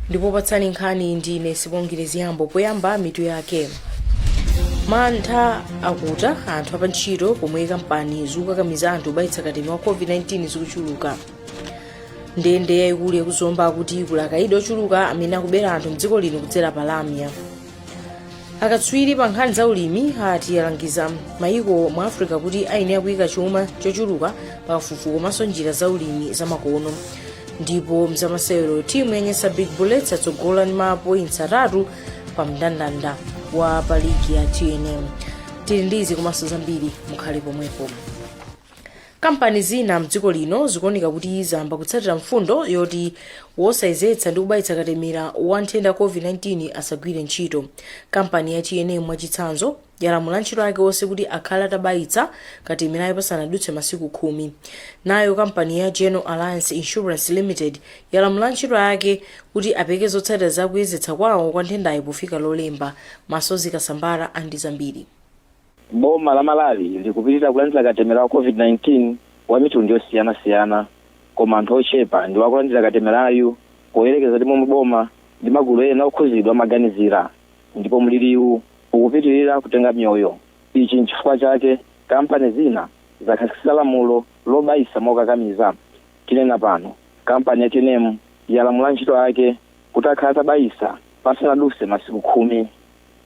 ndipo potsanula nkhani ndi ine sibongile ziyambo poyamba mitu yake mantha akuta anthu apantchito pomwe kampani zokakamiza anthu kubayitsa katemera wa covid-19 zikuchuluka ndende yayikulu yakuzomba akuti kuli akaidi ochuluka amene akubera anthu mdziko lino kudzera pa lamya akatswiri pa nkhani za ulimi ati alangiza mayiko mu africa kuti ayenera kuyika chuma chochuluka pa kafukufuku komanso njira za ulimi zamakono ndipo mzamasewero timu ya nyasa big bullets yatsogola ndi ma points atatu pa mndandanda wa pa ligi ya tnm tili ndizi komanso zambiri mukhale pomwepo kampani zina mdziko lino zikuoneka kuti zayamba kutsatira mfundo yoti wosayezetsa ndi kubayitsa katemera wa nthenda covid-19 asagwire ntchito kampani ya tnm mwachitsanzo yalamula antchito ake onse kuti akhale atabayitsa katemerayo pasanadutse masiku khumi nayo kampani ya general alliance insurance limited yalamula antchito ake kuti apereke zotsatira za kuyezetsa kwawo kwa nthendayo pofika lolemba masozi kasambara ali ndi zambiri Boma la Malawi likupitilira kulandira katemera wa COVID-19 wa mitundu yosiyana siyana koma anthu ochepa ndiwo akulandira katemerayu poyerekeza ndi momwe boma ndi magulu ena okhuzidwa amaganizira ndipo mliliwu ukupitilira kutenga miyoyo ichi nchifukwa chake kampani zina zakhazikitsa lamulo lobayitsa mokakamiza tinena pano kampani ya tnm yalamula antchito ake kuti akhale atabayitsa pasanadutse masiku khumi.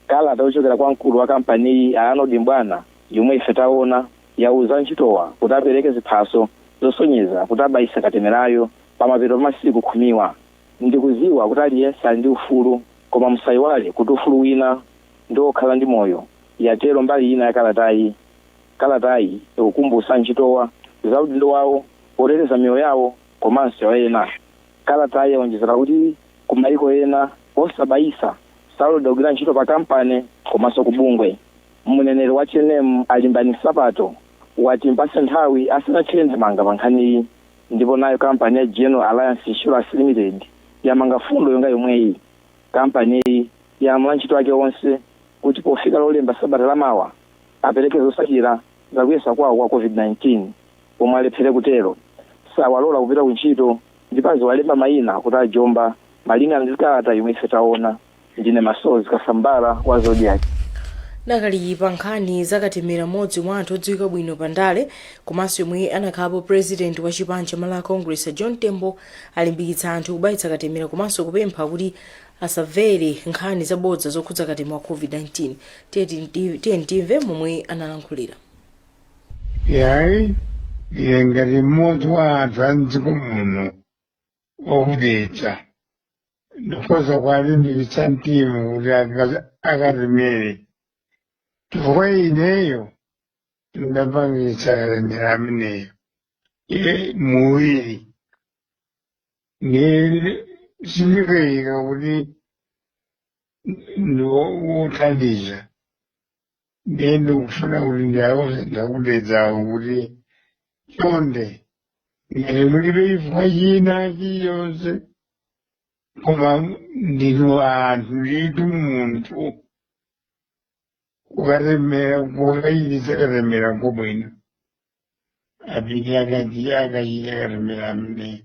Kalata yochokera kwa mkulu wa kampaniyi a Arnold M'bwana yomwe ife taona yauza antchitowa kuti apereke ziphaso zosonyeza kuti abayitsa katemerayu pamapeto pa masiku khumiwa. Ndikudziwa kuti aliyense ali ndi ufulu koma musayiwale kuti ufulu wina ndi wokhala ndi moyo, yatero mbali ina ya kalatayi. Kalatayi ikukumbutsa antchitowa za udindo wawo poteteza miyoyo yawo komanso ya ena. Kalatayi yaonjezera kuti ku mayiko ena osabayitsa Saloledwa kugwira ntchito pa kampani komanso ku bungwe. Mneneri wa tnm a Limbani Nsapato ati timpatse nthawi asanathire ndemanga pa nkhaniyi ndipo nayo kampani ya General Alliance Insurance Limited yamanga fundo yonga yomweyi. Kampaniyi yalamula antchito ake onse kuti pofika lolemba sabata la mawa apereke zotsatira za kuyesa kwawo kwa Covid-19. omwe alephere kutero sawaloledwa kupita ku ntchito ndipo aziwalemba mayina kuti ajomba malingana ndi kalata yomwe ife taona ndine masozi kasambara wa zodiac dakali pa nkhani za katemera mmodzi mwa anthu odziwika bwino pa ndale komanso yemwe anakhalapo president wa chipani cha malawi congress a john tembo alimbikitsa anthu kubayitsa katemera komanso kupempha kuti asavere nkhani zabodza zokhudza katemera wa covid-19 Tiyeni timve momwe analankhulira yayi ine ngati mmodzi wa anthu a mdziko muno okudedza ndikhoza kuwalimbikitsa mtima kuti aka- akatemere chifukwa ineyo ndapangitsa katemera ameneyo iye muwiri nde sindikayika kuti ndiwothandiza ndiye ndikufuna kuti ndiwauze anzanga okudedzawo kuti chonde ngati mulibe chifukwa china chiyonse koma ndinu anthu nditu munthu kukatemera kukachititsa katemera kwabwino apite akachite katemera ameneyi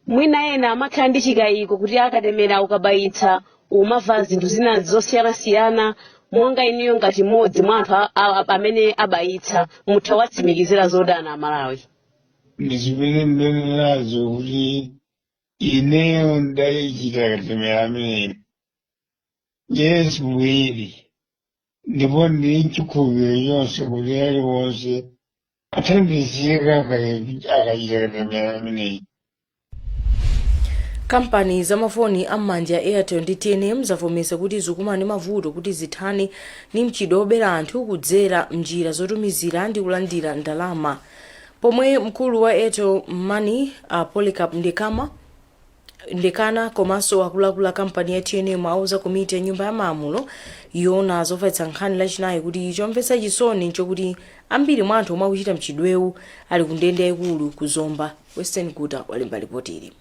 mwina ena amakhala ndi chikayiko kuti akatemera ukabayitsa umamva zinthu zina zosiyanasiyana monga inuyo ngati mmodzi mwa anthu a- a- amene abayitsa mutha kuwatsimikizira zotani amalawi ndizimene ndimanenazo kuti ineyo ndachita katemera ameneyi yes muwiri ndipo ndili nchikhulupiriro chonse kuti aliwonse athandizika akachita katemera ameneyi kampani za mafoni am'manja za airtel ndi tnm zavomeza kuti zikukumana ndi mavuto kuti zithane ndi mchitidwe wobera anthu kudzera mnjira zotumizira ndi kulandira ndalama pomwe mkulu wa airtel money a polycarp ndekana Ndekana komanso akuluakulu a kampani ya tnm auza komiti ya nyumba ya malamulo yoona zofalitsa nkhani lachinayi kuti chomvetsa chisoni nchokuti ambiri mwa anthu omwe akuchita mchitidwewu ali ku ndende yaikulu ku zomba. Western Guta walemba lipotili.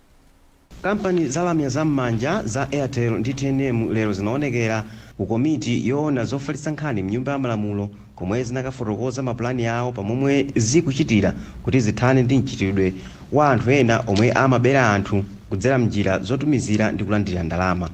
Kampani za lamya za m'manja za Airtel ndi tnm lero zinaonekera ku komiti yoona zofalitsa nkhani mnyumba ya malamulo komwe zinakafotokoza mapulani awo pa momwe zikuchitira kuti zithane ndi mchitidwe wa anthu ena omwe amabera anthu kudzera m'njira zotumizira ndi kulandira ndalama.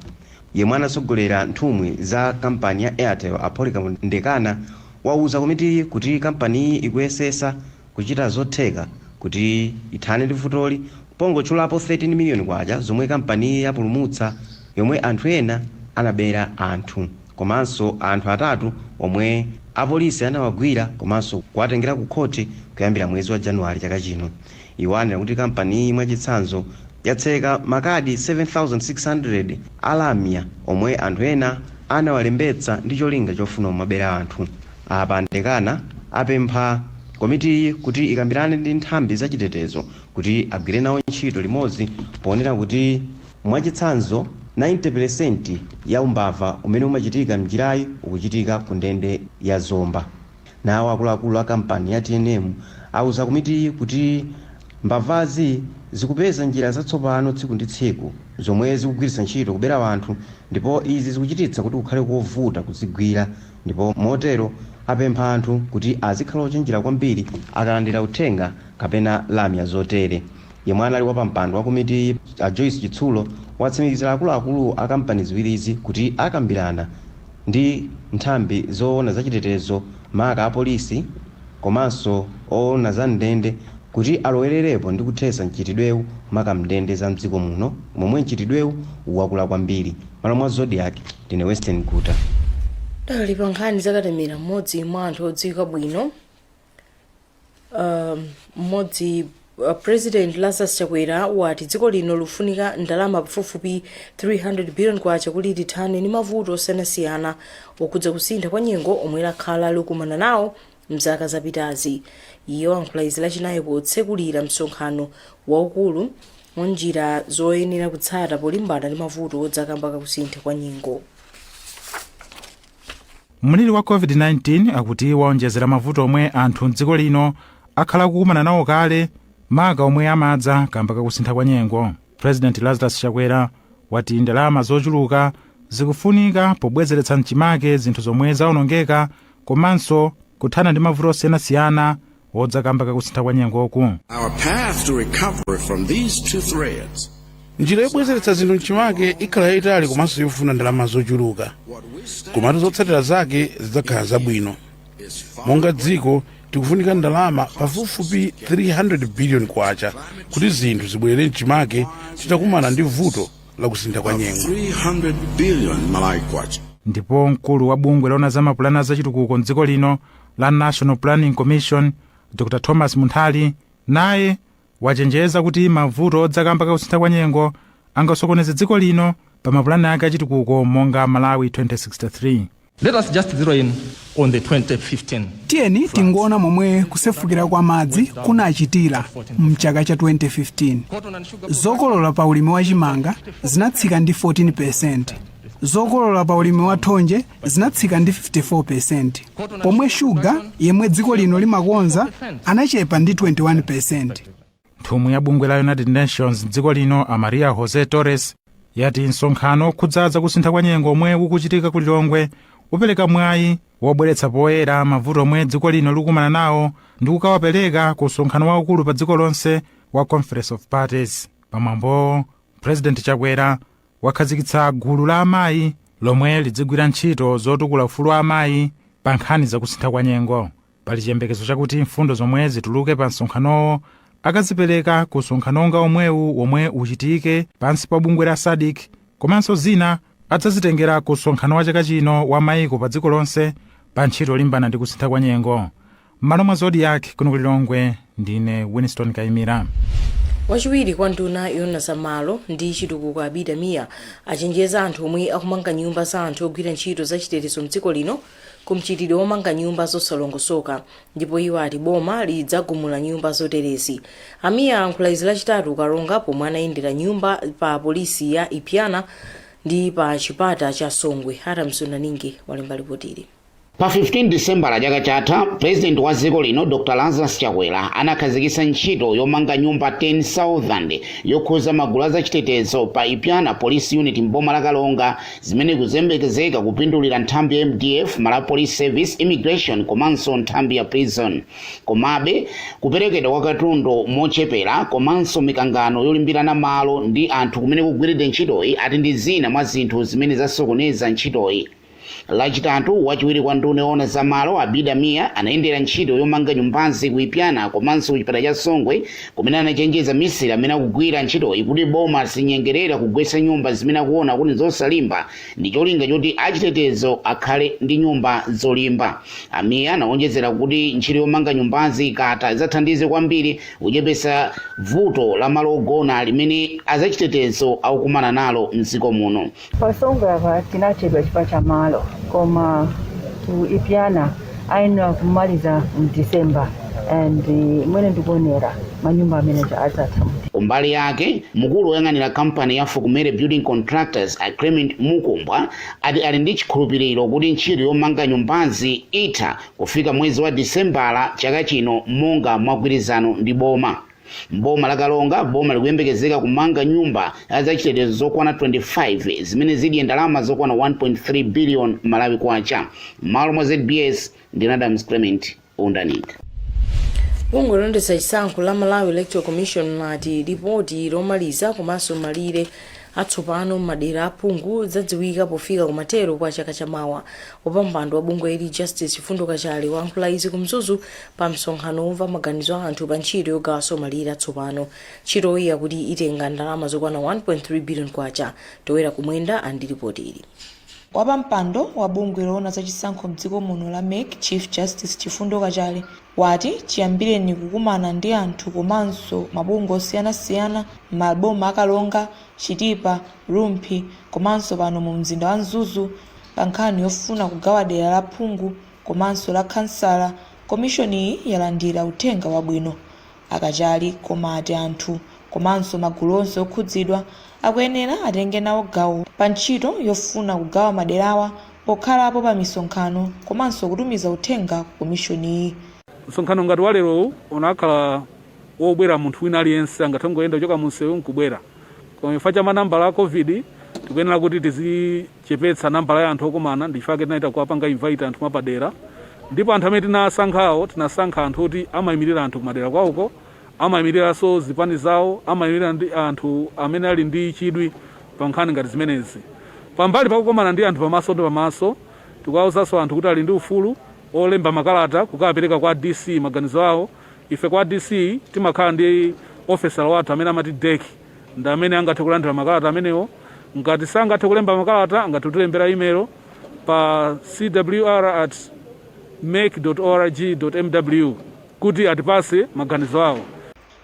Yemwe anatsogolera nthumwi za kampani ya Airtel a Polycarp Ndekana wauza komitiyi kuti kampaniyi ikuyesesa kuchita zotheka kuti ithane ndi vutoli pongotchulapo K13 miliyoni zomwe kampaniyi yapulumutsa yomwe anthu ena anabera anthu. komanso anthu atatu omwe apolisi anawagwira komanso kuwatengera ku khothi kuyambira mwezi wa January chaka chino. Iwo anena kuti kampaniyi mwachitsanzo, yatseka makadi 7,600 a lamya omwe anthu ena anawalembetsa ndi cholinga chofuna kumabera anthu. Apa a Ndekana apempha komitiyi kuti ikambirane ndi nthambi za chitetezo kuti agwire nawo ntchito limodzi ponena kuti. Mwachitsanzo, 90 percent ya umbava umene umachitika m'njirayi ukuchitika kundende ya Zomba. Nawo akuluakulu a kampani ya tnm auza komitiyi kuti mbavazi zikupeza njira zatsopano tsiku ndi tsiku zomwe zikugwiritsa ntchito kubera anthu ndipo izi zikuchititsa kuti kukhale kovuta kuzigwira ndipo motero apempha anthu kuti azikhala ochenjera kwambiri akalandira uthenga kapena lamya zotere. Yemwe anali wapampando wa komitiyi, a Joyce Chitsulo, watsimikizira akuluakulu a kampani ziwirizi kuti akambirana ndi nthambi zoona za chitetezo maka apolisi komanso oona za m'ndende kuti alowererepo ndi kuthetsa mchitidwewu maka m'ndende za m'dziko muno momwe mchitidwewu wakula kwambiri. M'malo mwa Zodiak, ndine Western Guta. Tidakali pa nkhani za katemera, m'modzi mwa anthu odziwika bwino um, mmodzi uh, president lazarus chakwera wati dziko lino lifunika ndalama pafupifupi 300 billion kwacha kuti lithane ndi mavuto osiyanasiyana okhudza kusintha kwa nyengo omwe lakhala likumana nawo mzaka zapitazi iye wayankhula izi lachinayi potsekulira msonkhano waukulu wa njira zoyenera kutsata polimbana ndi mavuto odza kamba kakusintha kwa nyengo Mliri wa COVID-19 akuti waonjezera mavuto omwe anthu m'dziko lino akhala akukumana nawo kale, maka omwe amadza kamba kakusintha kwa nyengo. President Lazarus Chakwera wati ndalama zochuluka zikufunika pobwezeretsa mchimake zinthu zomwe zaonongeka komanso kuthana ndi mavuto osiyanasiyana odza kamba kakusintha kwa nyengoku Our path to recovery from these two threats njira yobwezeretsa zinthu mchimake ikhala yayitali komanso yofuna ndalama zochuluka komatu zotsatira zake zidzakhala zabwino monga dziko tikufunika ndalama pafupifupi 300 biliyoni kwacha kuti zinthu zibwerere mchimake titakumana ndi vuto la kusintha kwa nyengo 300 billion Malawi kwacha. ndipo mkulu wa bungwe loona za mapulani a zachitukuko mdziko lino la National Planning Commission Dr Thomas Munthali naye wachenjeza kuti mavuto odza kamba ka kusintha kwa nyengo angasokoneze dziko lino pa mapulani ake achitukuko monga Malawi 2063. Let us just zero in on the 2015. tiyeni tingoona momwe kusefukira kwa madzi kunachitira mchaka cha 2015 zokolola pa ulimi wa chimanga zinatsika ndi 14 percent zokolola pa ulimi wa thonje zinatsika ndi 54 percent pomwe shuga yemwe dziko lino limakonza anachepa ndi 21 percent nthumwi ya bungwe la united nations mdziko lino a maria jose torres yati msonkhano okhudza za kusintha kwa nyengo omwe ukuchitika ku lilongwe upereka mwayi wobweretsa poyera mavuto omwe dziko lino likukumana nawo ndi kukawapereka ku msonkhano waukulu pa dziko lonse wa conference of parties pamwambowo president chakwera wakhazikitsa gulu la amayi lomwe lidzigwira ntchito zotukula ufulu wa amayi pa nkhani za kusintha kwa nyengo pali chiyembekezo chakuti mfundo zomwe zituluke pa msonkhanowo akazipereka ku msonkhano wonga womwewu womwe uchitike pansi pa bungwe la sadc komanso zina adzazitengera ku msonkhano wa chaka chino wa mayiko pa dziko lonse pa ntchito yolimbana ndi kusintha kwa nyengo m'malo mwa zodiak kuno ku lilongwe ndine winston kaimira wachiwiri kwa nduna yona za malo ndi chitukuko abida mia achenjeza anthu omwe akumanga nyumba za anthu ogwira ntchito za chitetezo mdziko lino ku mchitidwe womanga nyumba zosalongosoka ndipo iwo ati boma lidzagumula nyumba zoterezi a mia alankhula izi lachitatu ku karonga pomwe anayendera nyumba pa polisi ya ipyana ndi pa chipata cha songwe adams wundaninge walemba lipotili Pa 15 Disembala chaka chatha, Pulezidenti wa dziko lino Dr Lazarus Chakwera anakhazikitsa ntchito yomanga nyumba 10,000 yokhudza magulu a zachitetezo pa Ipyana Police Unit m'boma la Karonga zimene zikuyembekezeka kupindulira nthambi ya MDF, Malawi Police Service, Immigration komanso nthambi ya Prison. Komabe, kuperekedwa kwa katundu mochepera komanso mikangano yolimbirana malo ndi anthu kumene kugwiridwe ntchitoyi ati ndi zina mwa zinthu zimene zasokoneza ntchitoyi. Lachitatu, wachiwiri kwa nduna yoona za malo Abida Mia anayendera ntchito yomanga nyumbazi ku Ipyana komanso ku chipata cha Songwe kumene anachenjeza misiri amene akugwira ntchitoyi kuti boma silinyengerera kugwetsa nyumba zimene akuona kuti zosalimba ndi cholinga choti achitetezo akhale ndi nyumba zolimba. A Mia anawonjezera kuti ntchito yomanga nyumbazi ikatha idzathandize kwambiri kuchepetsa vuto la malo ogona limene azachitetezo akukumana nalo m'dziko muno. Pa Songwe tinachedwa chifukwa cha malo, koma ku Ipyana ayenera kumaliza mu December and mmene ndikuonera manyumba amenewa adzatha mu Kumbali yake, mkulu woyang'anira kampani ya Fokumere Building Contractors a Clement Mukumbwa ati ali ndi chikhulupiliro kuti ntchito yomanga nyumbazi itha kufika mwezi wa Disembala chaka chino monga mwagwirizano ndi boma. M'boma la Karonga, boma likuyembekezeka kumanga nyumba zachitetezo zokwana 25 zimene zidye ndalama zokwana 1.3 billion Malawi kwacha. M'malo mwa ZBS ndi Adams Clement Undaninge. Bungwe loyendetsa chisankho la malawi electoral commission lati lipoti lomaliza komanso malire atsopano m'madera aphungu zadziwika pofika kumathero kwa chaka chamawa wapampando wa bungweli justice chifundo kachale wayankhula izi ku mzuzu pa msonkhano womva maganizo a anthu pa ntchito yogawanso malire atsopano ntchitoyi yakuti itenga ndalama zokwana 1.3 billion kwacha towera kumwenda ali ndi lipoti ili Wapampando wa bungwe loona za chisankho mdziko muno la mec Chief Justice Chifundo Kachale wati chiyambireni kukumana ndi anthu komanso mabungwe osiyanasiyana m'maboma a Karonga, Chitipa, Rumphi komanso pano mu mzinda wa Mzuzu pa nkhani yofuna kugawa dera la phungu komanso la khansala, komishoniyi yalandira uthenga wabwino. A Kachale koma ati anthu komanso magulu onse okhudzidwa akuyenera atenge nawo gawo pa ntchito yofuna kugawa maderawa pokhalapo pa misonkhano komanso kutumiza uthenga kwa komishoniyi. Msonkhano ngati wa lerowu ukanakhala wobwera munthu wina aliyense, angathe kungoyenda kuchoka mumsewu n'kubwera koma chifukwa cha manambala a Covid tikuyenera kuti tizi. chepetsa nambala ya anthu okumana ndichifukwa chake tinachita kuwapanga invite anthu mwapadera ndipo anthu amene tinasankhawo tinasankha anthu oti amayimirira anthu kumadera kwawo amayimiriranso zipani zawo amayimirira ndi anthu amene ali ndi chidwi pa nkhani ngati zimenezi pambali pakukomana ndi anthu pamaso ndi pamaso tikuwawuzanso anthu kuti ali ndi ufulu olemba makalata kukawapereka kwa dc maganizo awo ife kwa dc timakhala ndi ofesala wathu amene amati DEC ndi amene angathe kulandira makalata amenewo ngati sangathe kulemba makalata angathe kutilembera imelo pa cwr at mec org mw kuti atipase maganizo awo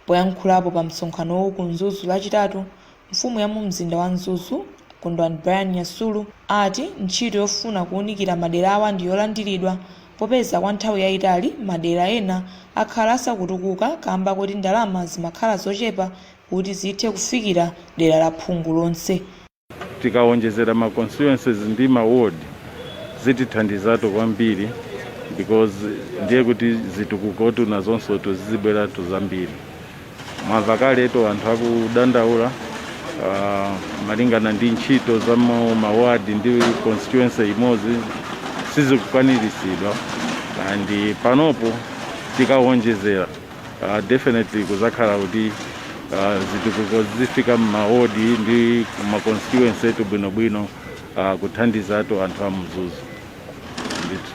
Poyankhulapo pa msonkhanowu ku Mzuzu Lachitatu, mfumu ya mu mzinda wa Mzuzu, Kondwani Brian Nyasulu, ati ntchito yofuna kuunikira maderawa ndi yolandiridwa Popeza kwa nthawi yaitali madera ena akhala asakutukuka kamba koti ndalama zimakhala zochepa kuti zithe kufikira dera la phungu lonse, Tikawonjezera ma constituencies ndi ma ward zitithandizatu kwambiri because ndiye kuti zitukukotu nazonsotu zizibweratu zambiri. Mwava kaletu anthu akudandaula ah, malingana ndi ntchito za mu maward ndi constituency imodzi sizikwaniritsidwa and panopo tikawonjezera ah, definitely kuzakhala kuti ah, zitukuko zifika m'mawodi ndi ma constituency athu bwinobwino ah, kuthandizatu anthu a Mzuzu ndithu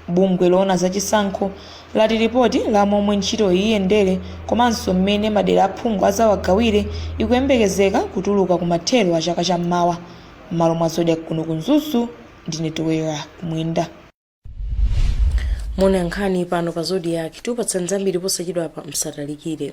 Bungwe loona za chisankho lati lipoti la momwe ntchitoyi iyendere komanso mmene madera a phungu azawagawire ikuyembekezeka kutuluka kumathero a chaka cha mmawa. Mmalo mwa Zodiak kuno ku Mzuzu ndine Towera Kumwenda. Mukumva nkhani pano pa Zodiak tikupatsani zambiri posachedwapa msatalikire.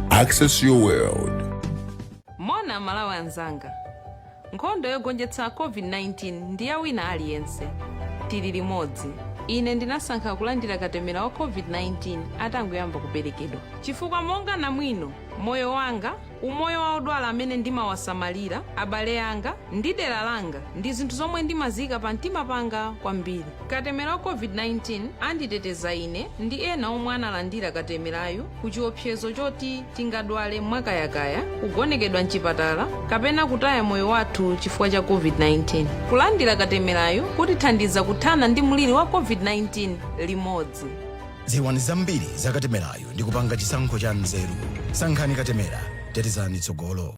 Access your world. moni amalawi anzanga nkhondo yogonjetsa covid-19 ndi ya wina aliyense tili limodzi ine ndinasankha kulandira katemera wa covid-19 atangoyamba kuperekedwa chifukwa monga namwino moyo wanga umoyo wa odwala amene ndimawasamalira abale anga ndi dera langa ndi zinthu zomwe ndimaziika pa mtima panga kwambiri Katemera wa COVID-19 anditeteza ine ndi ena omwe analandira katemerayu ku chiopsezo choti tingadwale mwakayakaya, kugonekedwa m'chipatala, kapena kutaya moyo wathu chifukwa cha COVID-19. Kulandira katemerayu kutithandiza kuthana ndi mliri wa COVID-19 limodzi. Dziwani zambiri za katemerayu ndi kupanga chisankho cha nzeru. Sankhani katemera, tetezani tsogolo.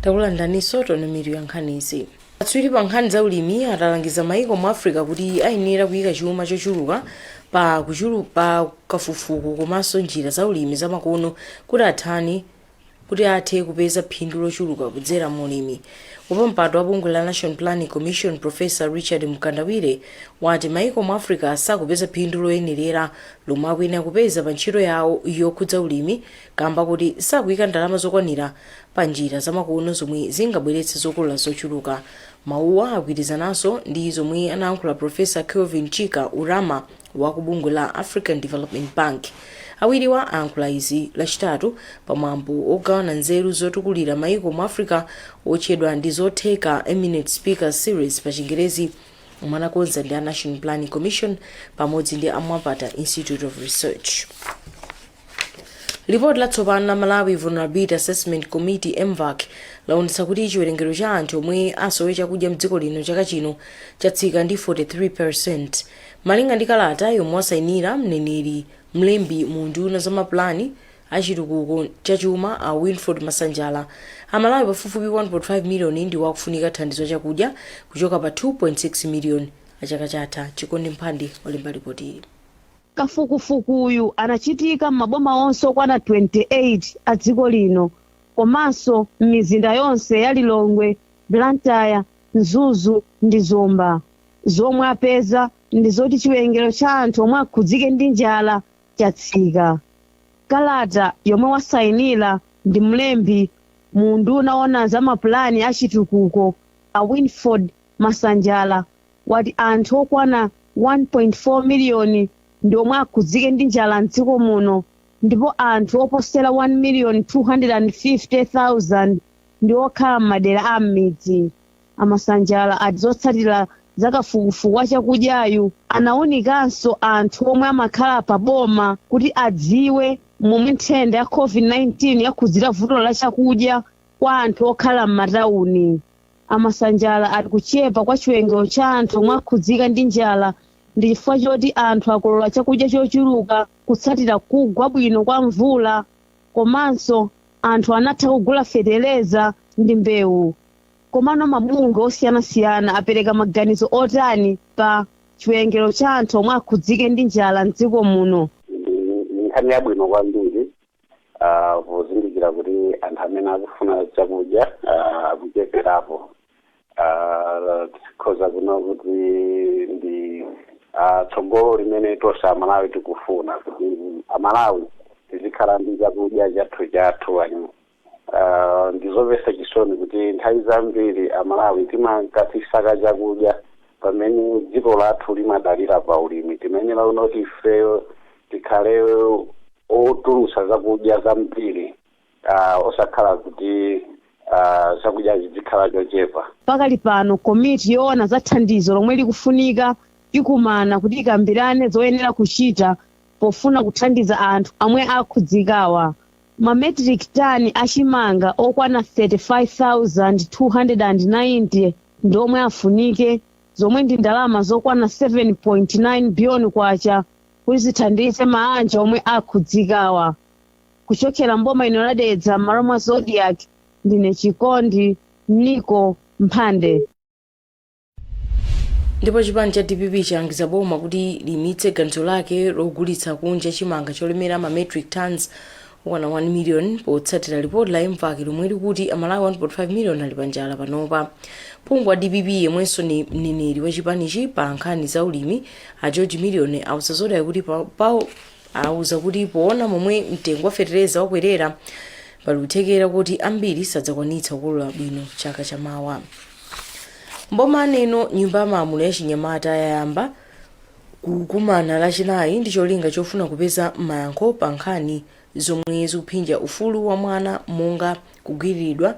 takulandiraninso tonomiro ya nkhanizi akatswiri pa nkhani za ulimi alangiza maiko mu africa kuti ayenera kuyika chuma chochuluka pa kuchulu pa kafukufuku komanso njira za ulimi zamakono kuti athane Kuti athe kupeza phindu lochuluka kudzera mu ulimi, wapampando wa bungwe la National Planning Commission Professor Richard Mkandawire wati maiko mu Africa sakupeza phindu loyenerera lomwe akuyenera kupeza pa ntchito yawo yokhudza ulimi kamba koti sakuika ndalama zokwanira pa njira zamakono zomwe zingabweretse zokolola zochuluka. Mawuwa agwirizananso ndi zomwe anayankhula Professor Kevin Chika Urama, wa ku bungwe la african development bank awiriwa ayankhula izi lachitatu pamwambo wogawana nzeru zotukulira maiko mu africa wotchedwa ndizotheka eminent speaker series pa chingerezi omwe anakonza ndi a national planning commission pamodzi ndi a mwapata institute of research Lipoti latsopano la Malawi Vulnerability Assessment Committee, MVAC, laonetsa kuti chiwerengero cha anthu omwe asowe chakudya mdziko lino chaka chino chatsika ndi 43 percent. Malinga ndi kalata yomwe wasainira mneneri mlembi mu unduna wa za mapulani a chitukuko cha chuma a Winford Masanjala, Amalawi pafupifupi 1.5 miliyoni ndiwo akufunika thandizo la chakudya kuchoka pa 2.6 miliyoni a chaka chatha. Chikondi Mphande wolemba lipotili. Kafukufukuyu anachitika m'maboma onse okwana 28 a dziko lino komanso m'mizinda yonse ya Lilongwe, Blantyre, Mzuzu ndi Zomba. Zomwe apeza ndi zoti chiwerengero cha anthu omwe akhudzike ndi njala chatsika. Kalata yomwe wasainira ndi mlembi mu unduna woona za mapulani a chitukuko a Winford Masanjala wati anthu okwana 1.4 miliyoni ndi omwe akhudzike ndi njala m'dziko muno ndipo anthu oposera 1,050,000 ndi okhala m'madera a m'midzi. A Masanjala ati zotsatira za kafukufuku wa chakudyayu anaunikanso anthu omwe amakhala pa boma kuti adziwe momwe nthenda ya Covid-19 yakhudzira vuto la chakudya kwa anthu okhala m'matauni. A Masanjala ati kuchepa kwa chiwerengero cha anthu omwe akhudzika ndi njala ndi chifukwa choti anthu akolola chakudya chochuluka kutsatira kugwa bwino kwa mvula komanso anthu anatha kugula fetereza ndi mbewu. Komano mabungwe osiyanasiyana apereka maganizo otani pa chiwerengero cha anthu omwe akhudzike ndi njala m'dziko muno? Ndi nkhani yabwino kwambiri ah, pozindikira kuti anthu amene akufuna chakudya ah, akuchepelapo Ah, tikhoza kuona kuti ndi ah, tsogolo limene tonse amalawi tikufuna kuti amalawi tizikhala ndi chakudya chathu chathu ani Ah, ndizomvetsa chisoni kuti nthawi zambiri amalawi timakhala tikusaka chakudya pamene dziko lathu limadalira pa ulimi timayenera kuti ifeyo tikhale otulutsa zakudya zambiri uh, osakhala kuti uh, chakudyachi chidzikhala chochepa Pakali pano komiti yoona za thandizo lomwe likufunika ikumana kuti ikambirane zoyenera kuchita pofuna kuthandiza anthu omwe akhudzikawa. Ma metric tani a chimanga okwana 35,290 ndiwo omwe afunike zomwe ndi ndalama zokwana 7.9 biliyoni kwacha kuti zithandize maanja omwe akhudzikawa. Kuchokera m'boma lino la Dedza m'malo mwa Zodiak, ndine Chikondi Niko Mphande. ndipo chipani cha dpp chalangiza boma kuti liimitse ganizo lake logulitsa kunja chimanga cholemera ma metric tons okwana 1 million potsatira lipoti la mvac lomwe likuti amalawi 1.5 million ali panjala panopa phungu wa dpp yemwenso ni mneneri wa chipanichi pa nkhani za ulimi a george million auza zodiak kuti pa- pa- auza kuti poona momwe mtengo wa fetereza wakwerera pali kuthekera kuti ambiri sadzakwanitsa kukolola bwino chaka chamawa mboma aneno nyumba ya malamulo ya chinyamata yayamba kukumana lachinayi ndi cholinga chofuna kupeza mayankho pa nkhani zomwe zikuphinja ufulu wa mwana monga kugwiriridwa,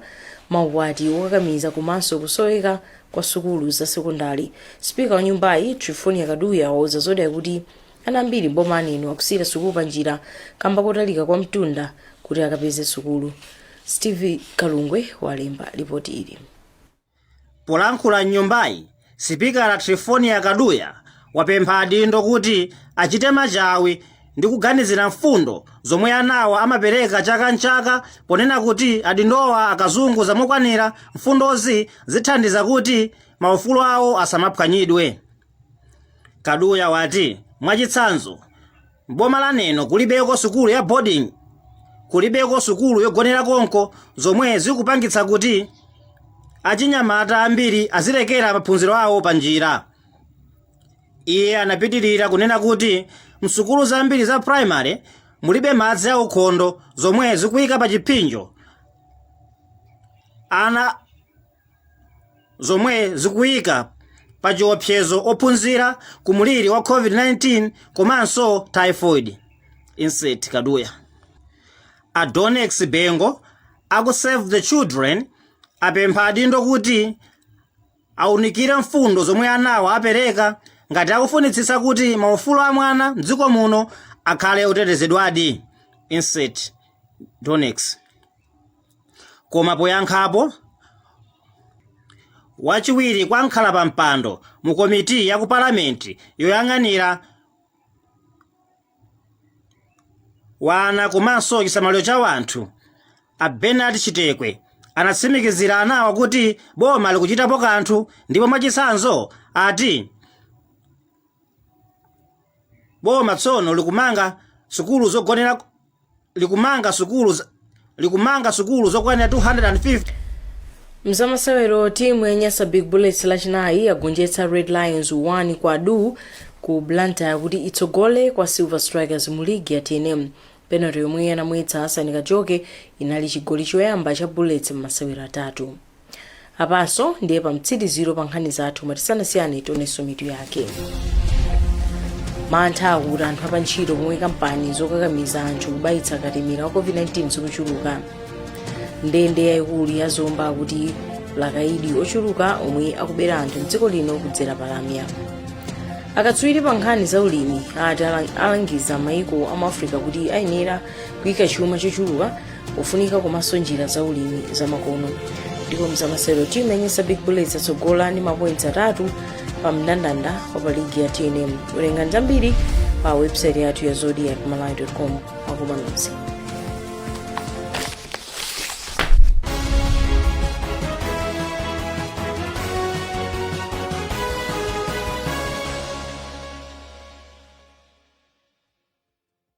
maukwati okakamiza komanso kusoweka kwa sukulu za sekondale. Sipika wa nyumbayi, Trifonia Kaduya wauza Zodiak kuti ana ambiri m'boma la Neno akusiyira sukulu panjira kamba kotalika kwa mtunda kuti akapeze sukulu. Steve Kalungwe walemba lipoti ili. Polankhula m'nyumbayi, sipikala Triphonia Kaduya wapempha adindo kuti achite machawi ndi kuganizira mfundo zomwe anawa amapereka chaka n'chaka ponena kuti adindowa akaziunguza mokwanira mfundozi zithandiza kuti maufulu awo asamaphwanyidwe. Kaduya wati, mwachitsanzo, M'boma la Neno kulibeko sukulu ya boarding, kulibeko sukulu yogonera konko zomwe zikupangitsa kuti achinyamata ambiri azilekera maphunziro awo pa njira. Iye anapitirira kunena kuti msukulu zambiri za primary mulibe madzi aukhondo zomwe zikuyika pa chiphinjo ana zomwe zikuyika pa chiopsezo ophunzira ku mliri wa COVID-19 komanso typhoid. Insert Kaduya. A Donex Bengo aku Save the Children apempha adindo kuti aunikire mfundo zomwe anawa apereka ngati akufunitsitsa kuti maufulu a mwana mdziko muno akhale otetezedwadi. Insert Donex. Koma poyankhapo, wachiwiri kwa mkhalapampando mu komiti ya ku Parliament yoyang'anira ana komanso chisamaliro cha wanthu, a Bernard Chitekwe, anatsimikizira anawa kuti boma likuchitapo kanthu ndipo mwachitsanzo ati boma tsono likumanga sukulu zogonera likumanga sukulu zokwanira 250 mzamasewero timu ya nyasa big bullets lachinayi yagonjetsa red lions 1 kwa du ku blantyre kuti itsogole kwa silver strikers mu ligi ya tnm penalty yomwe anamwetsa hassan kajoke inali chigoli choyamba cha bullets m'masewero atatu apanso ndiye pamtsiriziro pa nkhani zathu koma tisanasiyane tionenso mitu yake mantha akuti anthu apantchito pomwe kampani zokakamiza anthu kubayitsa katemera wa covid-19 zikuchuluka ndende yayikulu ya zomba akuti ili ndi akayidi ochuluka omwe akubera anthu mdziko lino kudzera palamya akatswiri pa nkhani za ulimi ati alangiza maiko a mu africa kuti ayenera kuyika chuma chochuluka kufunika komanso njira za ulimi zamakono ndipo mzamasewero timu yanyasa big bullets yatsogola ndi mapoints atatu pa mndandanda wa pa ligi ya tnm werengani zambiri pa website yathu ya zodiak malawi com zikomo nonse